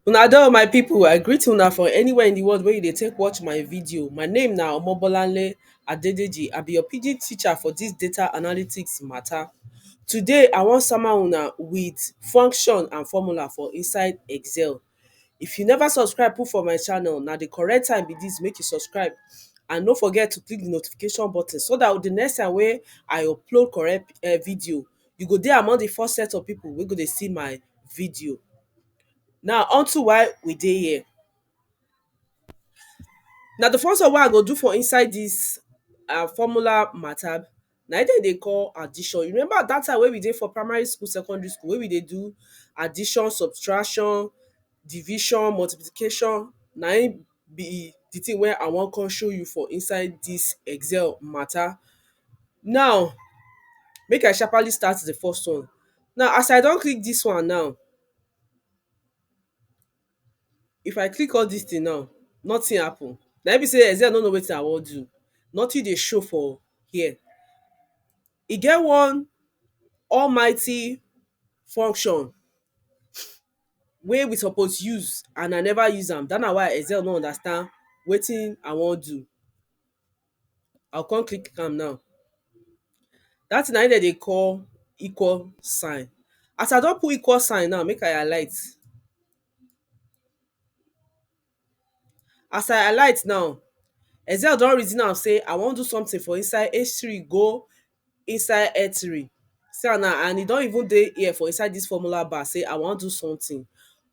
Una do my people, I greet una for anywhere in the world where you dey take watch my video. My name na Omobolanle Adedeji. I be your pidgin teacher for this data analytics matter. Today, I wan sama una with function and formula for inside Excel. If you never subscribe put for my channel, na the correct time be this make you subscribe and no forget to click the notification button so that the next time wey I upload correct eh video, you go dey among the first set of people wey go dey see my video. Now unto why we dey here, na the first one wey I go do for inside this ah formula matter na im dem dey call addition. You remember dat time wey we dey for primary school, secondary school wey we dey do addition, subtraction, division, multiplication, na im be the thing wey I wan come show you for inside dis excel matter. Now, make I sharpaly start the first one. Now, as I don click dis one now, if I click all dis thing now nothing happen na im be sey Excel no know wetin I wan do nothing dey show for here e get one almighty function wey we suppose use and I never use am dat one na why Excel no understand wetin I wan do I go come click am now dat thing na im dem dey call equal sign as I don put equal sign now make I alight as I alight now excel don reason am sey I wan do something for inside H three go inside eatery see am now and e don even dey here for inside dis formula bar sey I wan do something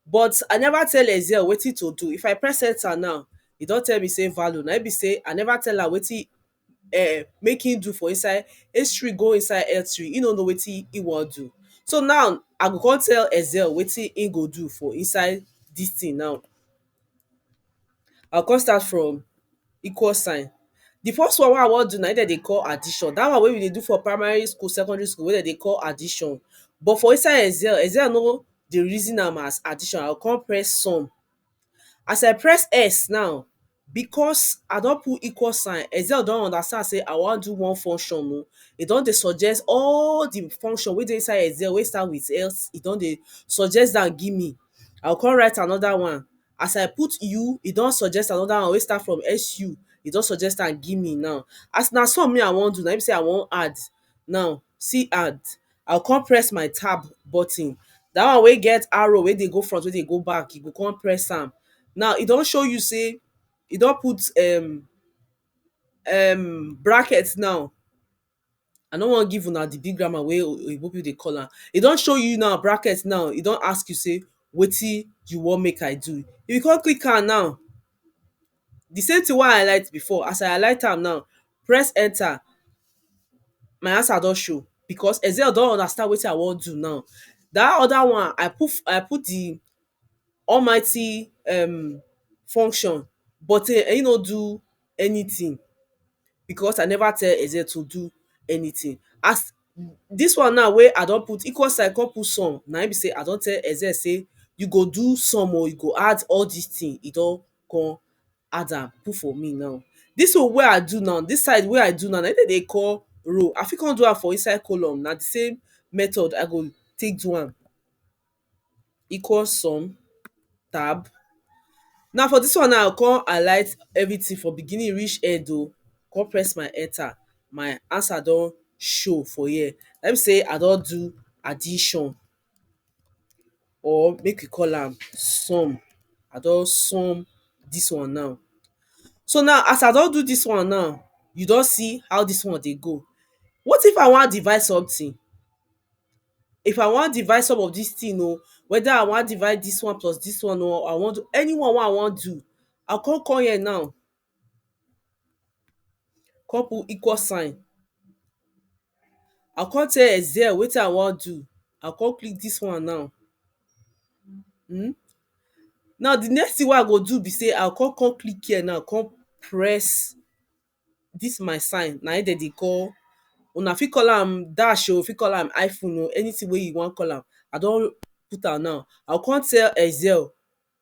but I never tell Ezeon wetin to do if I press enter now e don tell me sey value na im be sey I never tell am wetin um make im do for inside eatery go inside eatery im no know wetin im wan do so now I go come tell Ezeon wetin im go do for inside dis thing now I go come start from equal sign di first one wey I wan do na im dem dey call addition dat one wey we dey do for primary school secondary school wey dem dey call addition but for inside excel, excel no dey reason am as addition I go come press sum as I press S now because I don put equal sign excel don understand sey I wan do one function oh e don dey suggest all di function wey dey inside excel wey start with S e don dey suggest am give me I go come write another one as I put u e don suggest another one wey start from SU e don suggest am give me now as na sum me I wan do na im be sey I wan add now see add I go come press my tab button that one wey get arrow wey dey go front wey dey go back you go come press am now e don show you sey e don put um um bracket now I no wan give una di big grammar wey oyinbo pipu dey call am. E don show you now bracket now, e don ask you sey wetin you wan make I do. If you come click am now, di same tin wey I highlight before, as I highlight am now, press enter, my answer don show because Excel don understand wetin I wan do now. Dat other one, I put I put di almighty um function but e no do anything because I never tell Eze to do anything. As dis one now wey I don put equal sign come put sum na im be sey I don tell Eze sey you go do sum oo, you go add all dis thing e don come add am put for me now. Dis one wey I do now, dis side wey I do now na im dem dey call row. I fit come do am for inside column, na de same method I go take do am. equal sum tab now for dis one now I go come alight everything from beginning reach end oh come press my enter my answer don show for here na im be sey I don do addition or make we call am sum I don sum dis one now so now as I don do dis one now you don see how dis one dey go what if I wan divide something if I wan divide some of dis thing oh, whether I wan divide dis one plus dis one oh, I wan do anyone wey I wan do, I go come come here now, come put equal sign, I go come tell excel wetin I wan do, I go come click dis one now um now di next thing wey I go do be sey, I go come come click here now, come press dis my sign na im dem dey call una fit call am dash oh, fit call am hyphen oh, anything wey you wan call am I don put am now. I go come tell Excel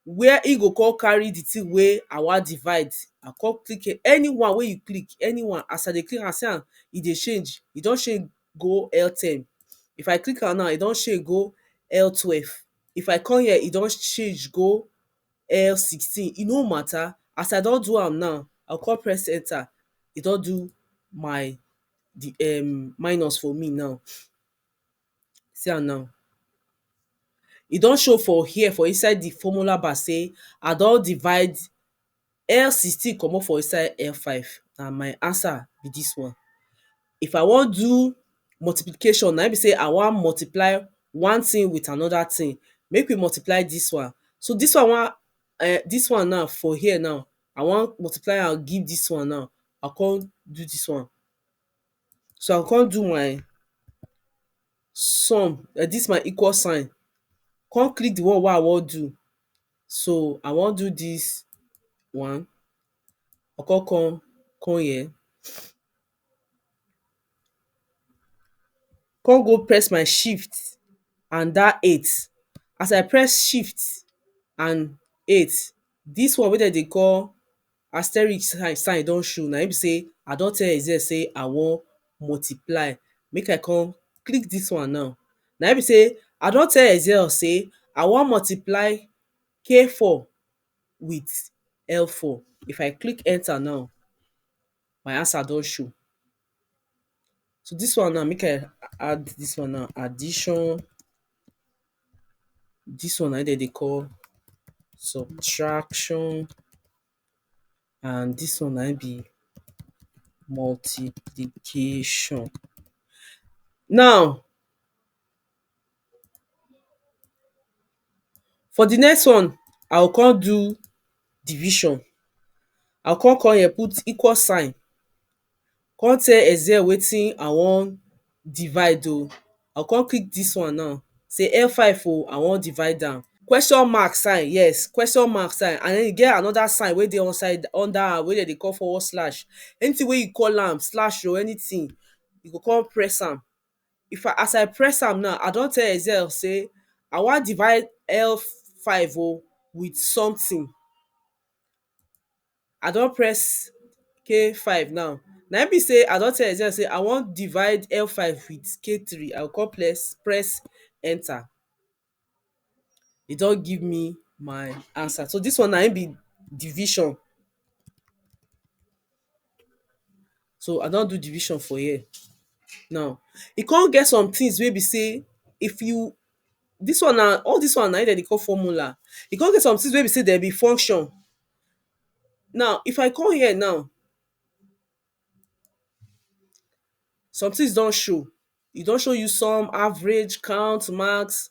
where e go come carry the thing wey I wan divide. I go come click here. Anyone wey you click, anyone, as I dey click am, see am e dey change. E don change go L ten. If I click am now, e don change go L twelve. If I come here, e don change go um sixteen e no matter as I don do am now I go come press enter e don do my the um minus for me now see am now e don show for here for inside the formula bar say I don divide L sixteen comot for inside L five na my answer be this one if I wan do multiplication na im be sey I wan multiply one thing with another thing, make we multiply dis one, so dis one wan um dis one now for here now I wan multiply am give dis one now, I go come do dis one, so I go come do my sum um dis my equal sign, come click di one wey I wan do, so I wan do dis one, I go come come come here. come go press my shift and dat eight as I press shift and eight dis one wey dem dey call asteric sign don show na im be sey I don tell excel sey I wan multiply make I come click dis one now na im be sey I don tell excel sey I wan multiply k four with l four if I click enter now my answer don show. So dis one now make I add dis one now addition, dis one na im dem dey call subtraction and dis one na im be multiplication. Now For di next one, I go come do division. I go come come here put equal sign, come tell excel wetin I wan divide o. I go come click dis one now, say F five o, I wan divide am. Question mark sign, yes, question mark sign and den e get anoda sign wey dey upside under am wey dem dey call forward slash. Anytin wey you call am, slash o, anytin, you go come press am. if I as I press am now I don tell Excel sey I wan divide L five oh with something I don press K five now na im be sey I don tell Excel sey I wan divide L five with K three I go come press enter e don give me my answer so dis one na im be division so I don do division for here now e come get somethings wey be sey if you dis one na all dis one na im dem dey call formula e come get somethings wey be sey dem be function now if I come here now somethings don show e don show you sum, average, count, max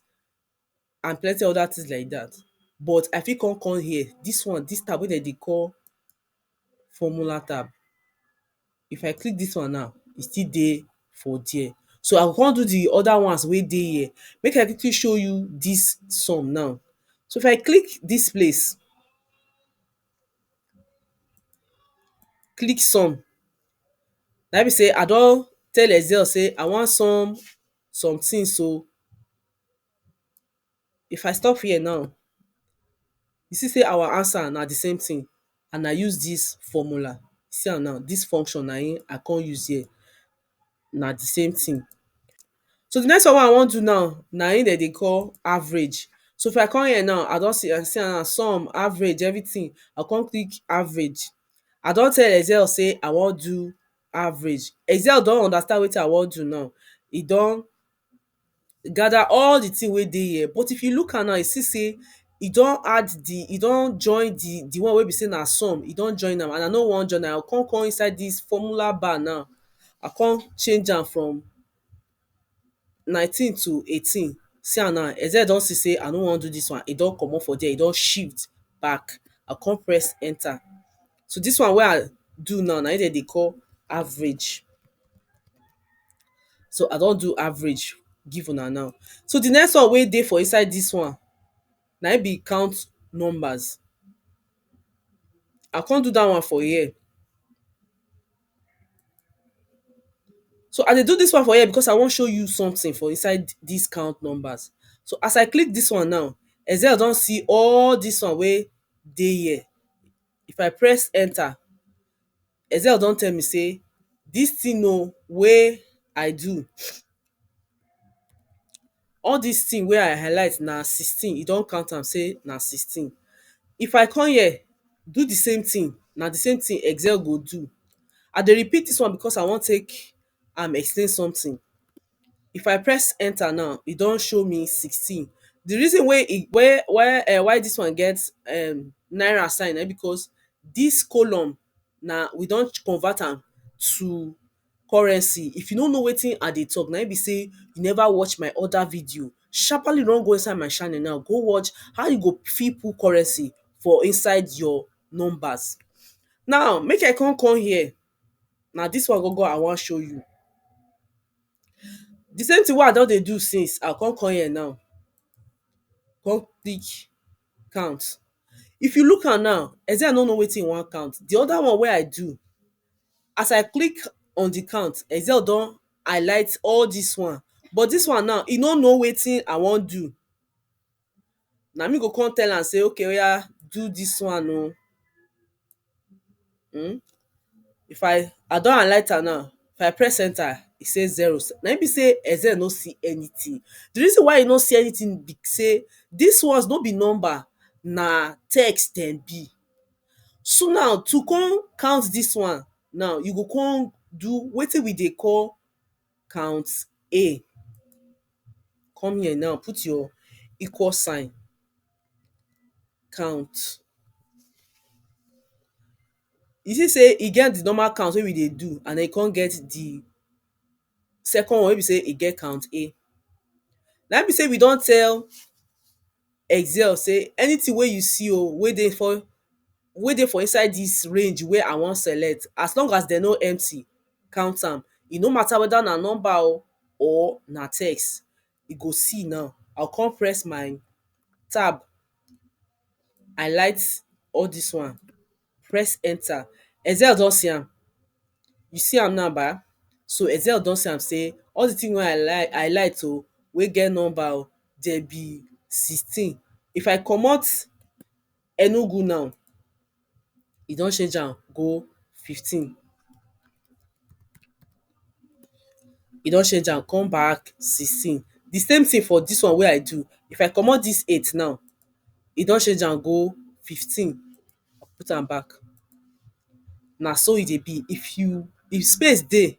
and plenty other things like dat but I fit come come here dis one dis tab wey dem dey call formula tab if I click dis one now e still dey for there so I go come do de other ones wey dey here make I quickly show you dis sum now so if I click dis place click sum na im be sey I don tell excel sey I wan sum some things oh if I stop here now you see sey our answer na the same thing and I use this formula see am now this function na im I come use here na di same thing. So di next one wey I wan do now na im dem dey call average. So if I come here now, I don see am now, sum, average, everything. I go come click average. I don tell Excel sey I wan do average. Excel don understand wetin I wan do now. E don gather all the thing wey dey here but if you look am now you see sey e don add the e don join the the one wey be sey na sum e don join am and i no wan join am i go come come inside this formula bar now i come change am from nineteen to eighteen see am now Excel don see sey i no wan do this one e don comot for there e don shift back i come press enter so dis one wey I do now na im dem dey call average so I don do average give una now so di next one wey dey for inside dis one na im be count numbers I come do dat one for here so I dey do dis one for here because I wan show you something for inside dis count numbers so as I click dis one now Excel don see all dis one wey dey here if I press enter, Excel don tell me sey dis thing oh wey I do all dis thing wey I highlight na sixteen, e don count am sey na sixteen. If I come here do the same thing, na the same thing Excel go do. I dey repeat dis one because I wan take am explain something if I press enter now e don show me sixteen the reason wey e wey why um why this one get um naira sign na because this column na we don convert am to currency if you no know wetin I dey talk na him be say you never watch my other video sharpaly run go inside my channel now go watch how you go fit put currency for inside your numbers now make I come come here na dis one gangan I wan show you di same thing wey I don dey do since I go come come here now come pick count if you look am now Ethan no know wetin he wan count di other one wey I do as I click on di count Ethan don highlight all dis one but dis one now he no know wetin I wan do na me go come tell am say okay oya do dis one oh um if I I don alight am now if I press enter e say zero na im be say Excel no see anything the reason why e no see anything be say dis ones no be number na text dem be so now to come count dis one now you go come do wetin we dey call count A. Come here now, put your equal sign, count. You see sey e get the normal count wey we dey do and e con get the second one wey be sey e get count A. Na im be sey we don tell Excel sey anything wey you see oh, wey dey for wey dey for inside dis range wey I wan select, as long as dem no empty, count am. E no matter whether na number oh or na text. You go see now, I go con press my tab, highlight all dis one. press enter. Ezel don see am, you see am now ba, so Ezel don see am sey all the thing wey I like I light o, wey get number o, dem be sixteen. If I comot Enugu now, e don change am go fifteen. e don change am come back sixteen the same thing for this one wey i do if i comot this eight now e don change am go fifteen put am back na so e dey be if you if space dey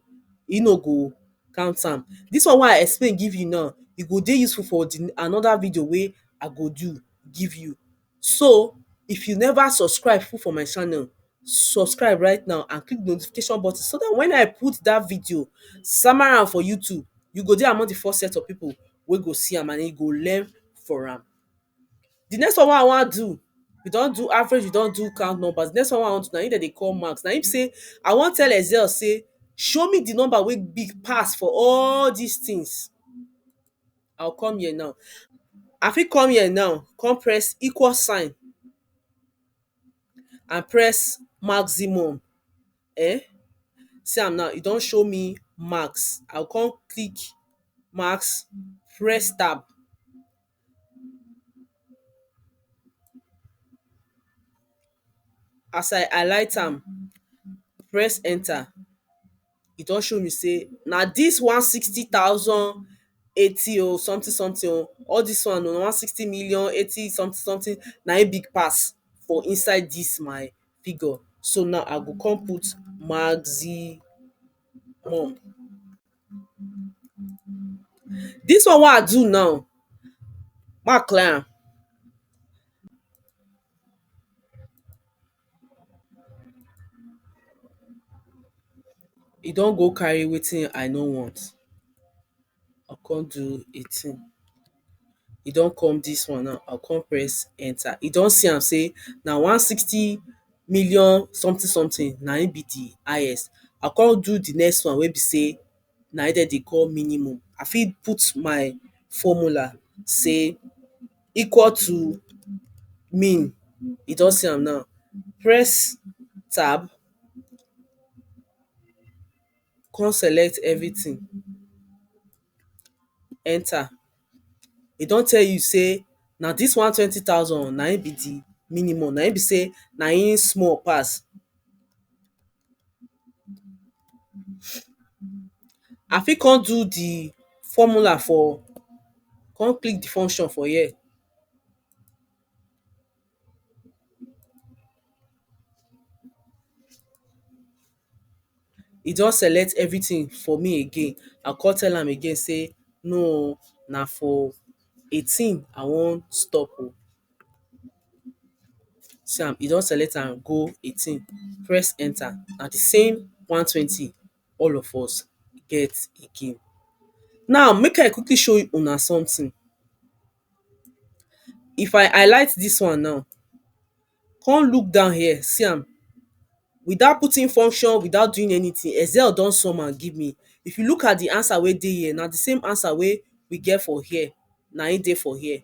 e no go count am this one wey i explain give you now e go dey useful for the another video wey i go do give you So, if you never subscribe put for my channel, subscribe right now and click the notification button so that when I put that video, sama am for YouTube, you go dey among the first set of people wey go see am and you go learn for am. The next one wey I wan do, we don do average, we don do count numbers. The next one wey I wan do na im dem dey call max. Na im be say I wan tell Excel say show me the number wey big pass for all these things. I go come here now I fit come here now come press equal sign and press maximum um see am now e don show me max I go come click max press tab as I highlight am press enter e don show me sey na dis one sixty thousand eighty oh something something oh, all dis one oh, one sixty million eighty something something na im big pass for inside dis my figure. So now I go come put maximum. Dis one wey I do now, make I clear am. E don go carry wetin I no want I come do the thing e don come this one now I go come press enter e don see am say na one sixty million something something na him be the highest I come do the next one wey be say na im dem dey call minimum. I fit put my formula sey equal to min, you don see am now, press tab, come select everything, enter. E don tell you sey na dis one twenty thousand na im be de minimum, na im be sey na im small pass. I fit come do di formula for come click di function for here e don select everything for me again, I go come tell am again sey no o na for eighteen I wan stop o see am e don select am go eighteen press enter na di same one twenty all of us get again now make I quickly show una something if I highlight dis one now come look down here see am without putting function without doing anything excel don sum am give me if you look at the answer wey dey here na the same answer wey we get for here na him dey for here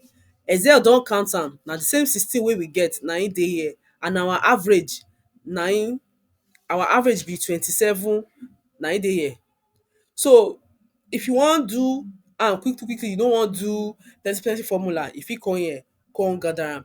excel don count am na the same sixteen wey we get na him dey here and our average na him our average be twenty seven na him dey here so if you wan do am quickly quickly you no wan do plenty plenty formula you fit come here come gather am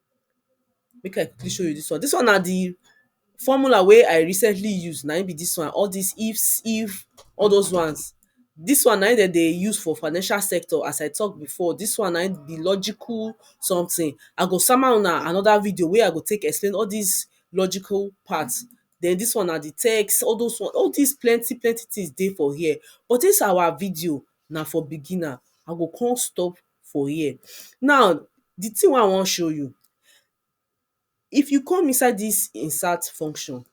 Make I quickly show you dis one. Dis one na the formula wey I recently use. Na im be dis one. All dis ifs, if, all dos ones. Dis one na im de dey use for financial sector as I talk before. Dis one na im be logical something. I go sama huna another video wey I go take explain all dis logical part. Den dis one na the text. All dos one all dis plenty plenty things dey for here. But dis our video na for beginner. I go con stop for here. Now di thing wey I wan show you, if you come inside dis insert function,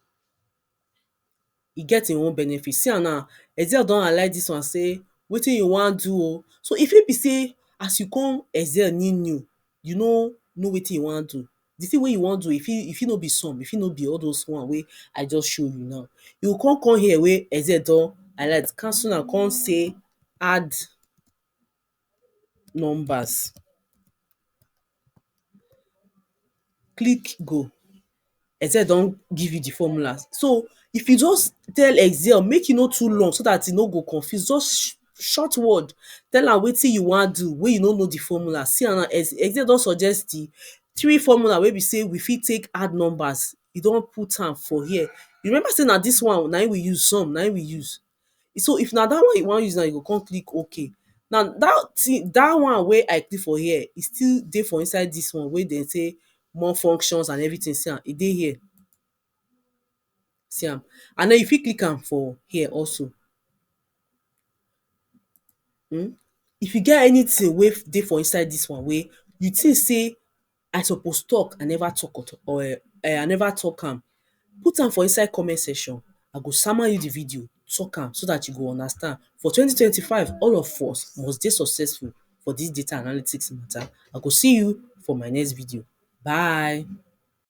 e get im own benefit, see am now excel don alight dis one sey wetin you wan do oh, so e fit be sey as you come excel new new, you no know wetin you wan do, di thing wey you wan do e fit e fit no be sum, e fit no be all doz one wey I just show you now. You go come come here wey excel don alight, cancel am come say add. numbers click go excel don give you di formula so if you just tell excel make e no too long so dat e no go confuse just short word tell am wetin you wan do wey you no know di formula see am now excel don suggest di three formula wey be sey we fit take add numbers e don put am for here you remember sey na dis one na im we use sum na im we use so if na dat one you wan use now you go come click ok now dat thing dat one wey I click for here e still dey for inside dis one wey dem say more functions and everything see am e dey here see am and den you fit click am for here also um if you get anything wey dey for inside dis one wey you think sey I suppose talk I never talk at all um I never talk am put am for inside comment section I go sama you the video talk am so that you go understand for twenty twenty five all of us must dey successful for this data analytics matter I go see you for my next video bye.